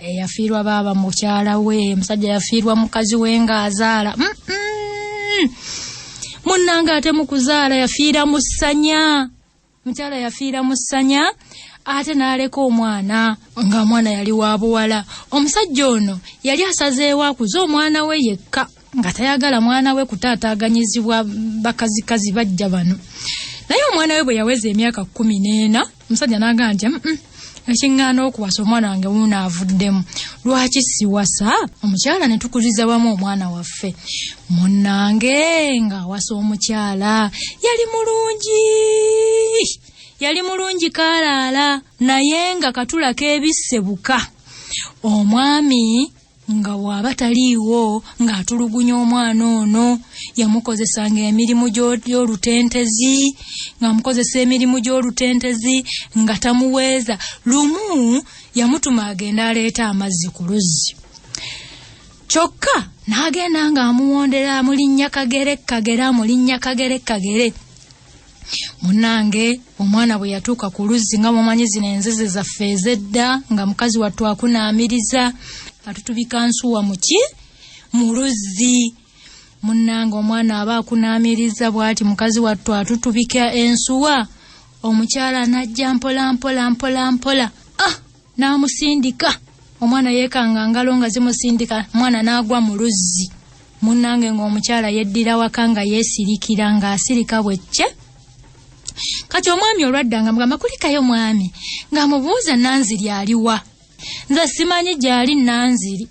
eyafiirwa baaba mukyala we musajja yafiirwa mukazi we ng'azaala mm -mm. munnanga ate mu kuzaala yafiira mu ssanya mukyala yafiira mu ssanya ate n'aleka omwana ng'omwana yali wa buwala omusajja ono yali asazeewo akuze omwana we yekka nga tayagala mwana we kutaataaganyizibwa bakazikazi bajja bano naye omwana we bwe yaweza emyaka kkumi n'ena omusajja n'agamba nti mm, mm, ekiŋŋaana okuwasa omwana wange wuuno avuddemu lwaki siwasa omukyala ne tukuliza wamu omwana waffe munnange ng'awasa omukyala yali mulungi yali mulungi kaalaala naye nga katula k'ebisse buka omwami nga bw'aba taliiwo ng'atulugunya omwana ono yamukozesanga emirimu gy'olutentezi ng'amukozesa emirimu gy'olutentezi nga tamuweeza lumu yamutuma agenda aleeta amazzi ku luzzi kyokka n'agenda ng'amuwondera amulinnya kagere kagere amulinnya kagere kagere munange omwana bwe yatuuka ku luzzi nga mumanyi zino enzizi zaffe ezedda nga mukazi wattu akunaamiriza atutubika nsuwa muki mu luzzi munange omwana aba akunaamiriza bwati mukazi wattu atutubika ensuwa omukyala anajja mpola mpola mpola mpola ah! n'amusindika omwana yeekanga ngalo nga zimusindika mwana n'agwa mu luzzi munnange ng'omukyala yeddira waka nga yeesirikira ng'asirika bwecce kati omwami olwadda nga mugamba kulikayo mwami ng'amubuuza nanziri aliwa nze simanyi gy'ali nanziri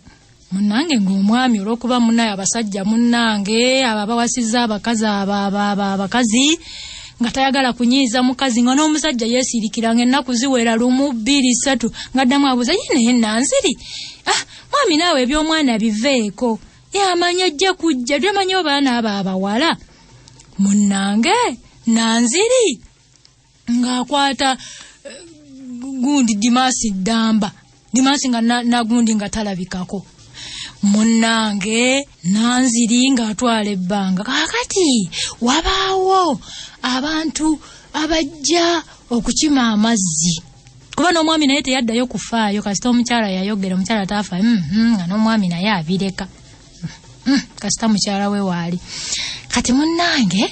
munange ngaomwami olwokuba munaye abasajja munange abo abawasiza abakazi abakazi nga tayagala kunyiiza mukazi nga n'omusajja yeesirikira nga ennaku ziwera lumu bbiri ssatu ngaddamu abuuza ye naye nanziri ah mwami naawe eby'omwana biveeko yamanyi ojja kujja byamanyi obaana abo abawala munnange nanziri ng'akwata eh, gundi dimasi ddamba dimasi nga nagundi nga talabikako munnange nanziri ng'atwala ebbanga kakati wabaawo abantu abajja okukima amazzi kuba n'omwami naye teyaddayo kufaayo kasita omukyala yayogera omukyala taafa mm, mm, nga n'omwami naye abireka mm, kasita mukyala we waali kati munnange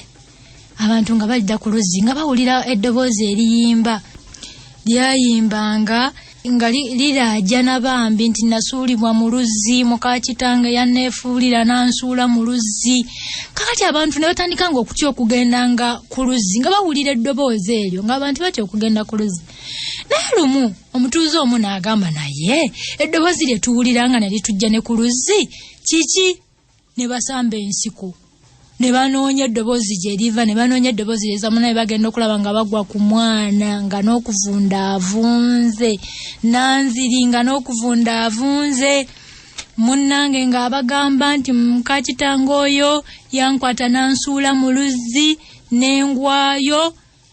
abantu nga balidda ku luzzi nga bawulira eddoboozi eriyimba lyayimbanga nga liraajana bambi nti nasuulibwa mu luzzi mukakitange yanneefuulira nansuula mu luzzi kakati abantu ne batandika nga okutya okugenda nga ku luzzi nga bawulira eddoboozi eryo nga abantu batya okugenda ku luzzi naye lumu omutuuze omu naagamba naye eddoboozi lye tuwulira nga ne litujja ne ku luzzi kiki ne basamba ensiko ne banoonya eddoboozi gye liva ne banoonya eddoboozi lyeza munaye bagenda okulaba nga bagwa ku mwana nga n'okuvunda avunze nanziri nga n'okuvunda avunze munnange ng'abagamba nti mukakitanga oyo yankwata nansuula mu luzzi n'engwayo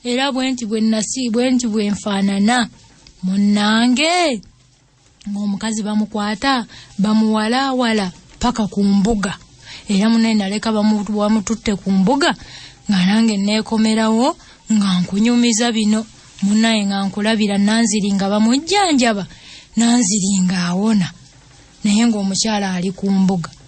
era bwe nti bwe nasi bwe nti bwe nfaanana munnange ng'omukazi bamukwata bamuwalaawala paka ku mbuga era munaye naleka bamututte ku mbuga nga nange neekomerawo nga nkunyumiza bino munaye nga nkulabira nanziri nga bamujjanjaba nanziri nga awona naye ng'omukyala ali ku mbuga